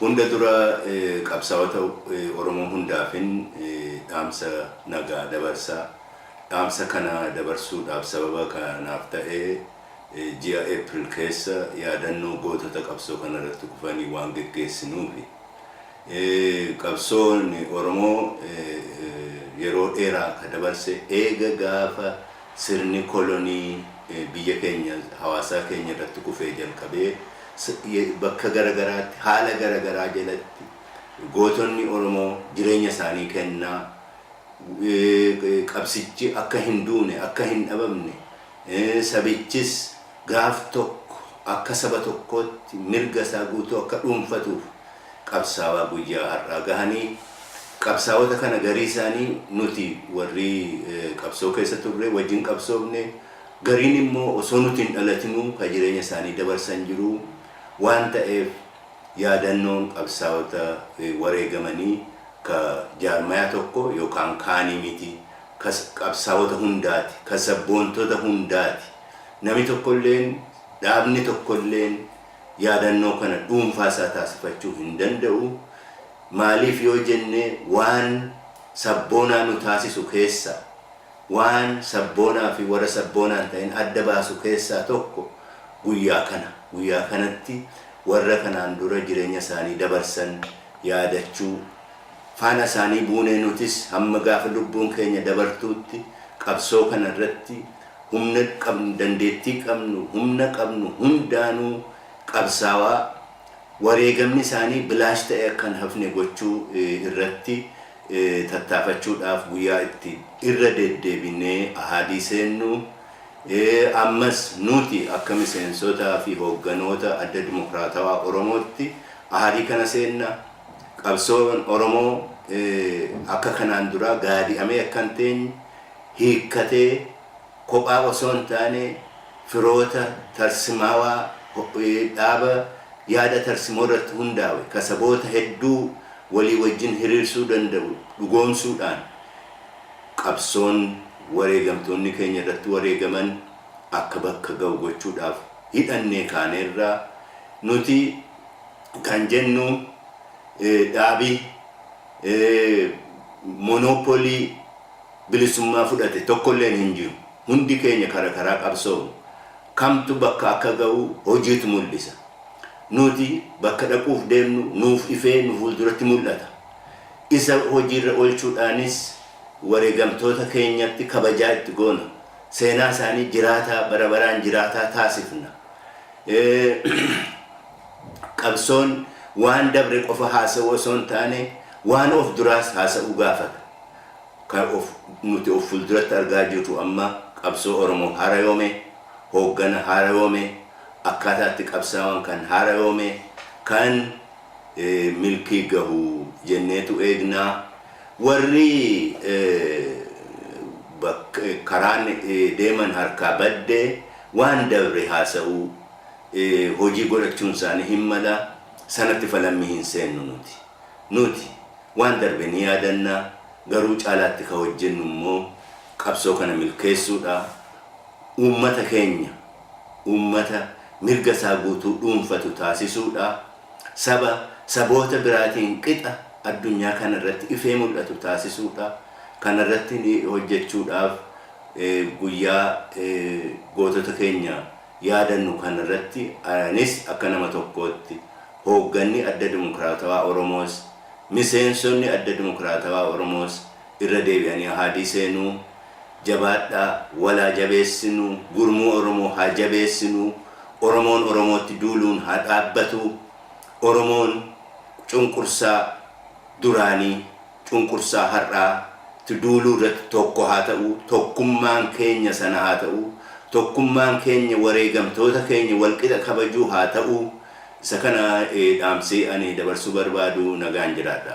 Hunda dura qabsaawota Oromoo hundaafin dhaamsa nagaa dabarsa. Dhaamsa kana dabarsuudhaaf sababa ka naaf ta'e ji'a April keessa yaadannoo gootota qabsoo kana irratti kufanii waan geggeessinuufi. Qabsoon Oromoo yeroo dheeraa ka dabarse eega gaafa Sirni kolonii biyya keenya hawaasaa keenya irratti kufee jalqabee bakka gara garaatti haala gara garaa jalatti gootonni Oromoo jireenya isaanii kennaa qabsichi akka hin duune akka hin dhabamne sabichis gaaf tokko akka saba tokkootti mirga isaa guutuu akka dhuunfatuuf qabsaawaa guyyaa har'aa gahanii qabsaawota kana garii isaanii nuti warri qabsoo keessa turre wajjin qabsoofne gariin immoo osoo nuti hin dhalatinuu ka jireenya isaanii dabarsan jiru waan ta'eef yaadannoon qabsaawota wareegamanii ka jaarmayaa tokko yookaan kaanii miti ka qabsaawota hundaati ka sabboontota hundaati nami tokkolleen dhaabni tokkolleen yaadannoo kana dhuunfaa isaa taasifachuu hin danda'u. Maaliif yoo jenne waan sabboonaa nu taasisu keessaa, waan sabboonaa fi warra sabboonaa hin ta'in adda baasu keessaa tokko guyyaa kana. Guyyaa kanatti warra kanaan dura jireenya isaanii dabarsan yaadachuu, faana isaanii buunee nutis hamma gaafa lubbuun keenya dabartuutti qabsoo kana irratti humna qabnu, dandeettii qabnu, humna qabnu hundaanuu qabsaawaa wareegamni isaanii bilaash ta'ee akka hin hafne gochuu irratti tattaafachuudhaaf guyyaa itti irra deddeebinee ahaadii seennu, ammas nuti akka miseensotaa fi hoogganoota Adda Dimokiraatawaa Oromootti ahaadii kana seenna, qabsoon Oromoo akka kanaan duraa gaadi'amee akka hin teenye, hiikkatee kophaa osoo hin taane firoota tarsimaawaa dhaaba yaada tarsimoo irratti hundaawe ka saboota hedduu walii wajjin hiriirsuu danda'u dhugoomsuu dhaan qabsoon wareegamtoonni keenya irratti wareegaman akka bakka ga'u gochuu dhaaf hidhannee kaaneerra. Nuti kan jennu dhaabi monopolii bilisummaa fudhate tokkolleen hin jiru. Hundi keenya kara karaa qabsoofne. Kamtu bakka akka ga'u hojiitu mul'isa. Nuti bakka dhaquuf deemnu nuuf ifee nu fuulduratti mul'ata. Isa hojiirra olchuudhaanis wareegamtoota keenyatti kabajaa itti goona. Seenaa isaanii jiraataa bara baraan jiraataa taasifna. Qabsoon waan dabre qofa haasa'uu osoo hin taane waan of duraas haasa'uu gaafata. Kan of nuti of fulduratti argaa jirru amma qabsoo Oromoo haarayoome, hooggana haarayoome, akkaataa itti qabsaawaan kan haarayoome, kan milkii gahu jenneetu eegna. Warri bak karaan deeman harkaa badde waan dabre haasa'uu, hojii godhachuun isaanii hin mala. Sanatti falammii hin seennu nuti. Nuti waan darbe ni yaadanna, garuu caalaatti ka hojjennu immoo qabsoo kana milkeessuudha. Uummata keenya uummata mirga isaa guutuu dhuunfatu taasisuudha. Saba saboota biraatiin qixa addunyaa kana irratti ifee mul'atu taasisuudha. Kana irratti hojjechuudhaaf guyyaa gootota keenya yaadannu kana irratti anis akka nama tokkootti, Hoogganni Adda Dimokraatawaa Oromoos, miseensonni Adda Dimokraatawaa Oromoos irra deebi'anii ahaadii seenuu, jabaadhaa, wal haa jabeessinu, gurmuu Oromoo haa jabeessinu, Oromoon Oromootti duuluun haa dhaabbatu, Oromoon cunqursaa duraanii, cunqursaa har'aa tti duuluu irratti tokko haa ta'uu, tokkummaan keenya sana haa ta'uu, tokkummaan keenya wareegamtoota keenya walqixa kabajuu haa ta'uu, isa kana dhaamsee ani dabarsuu barbaadu nagaan jiraadha.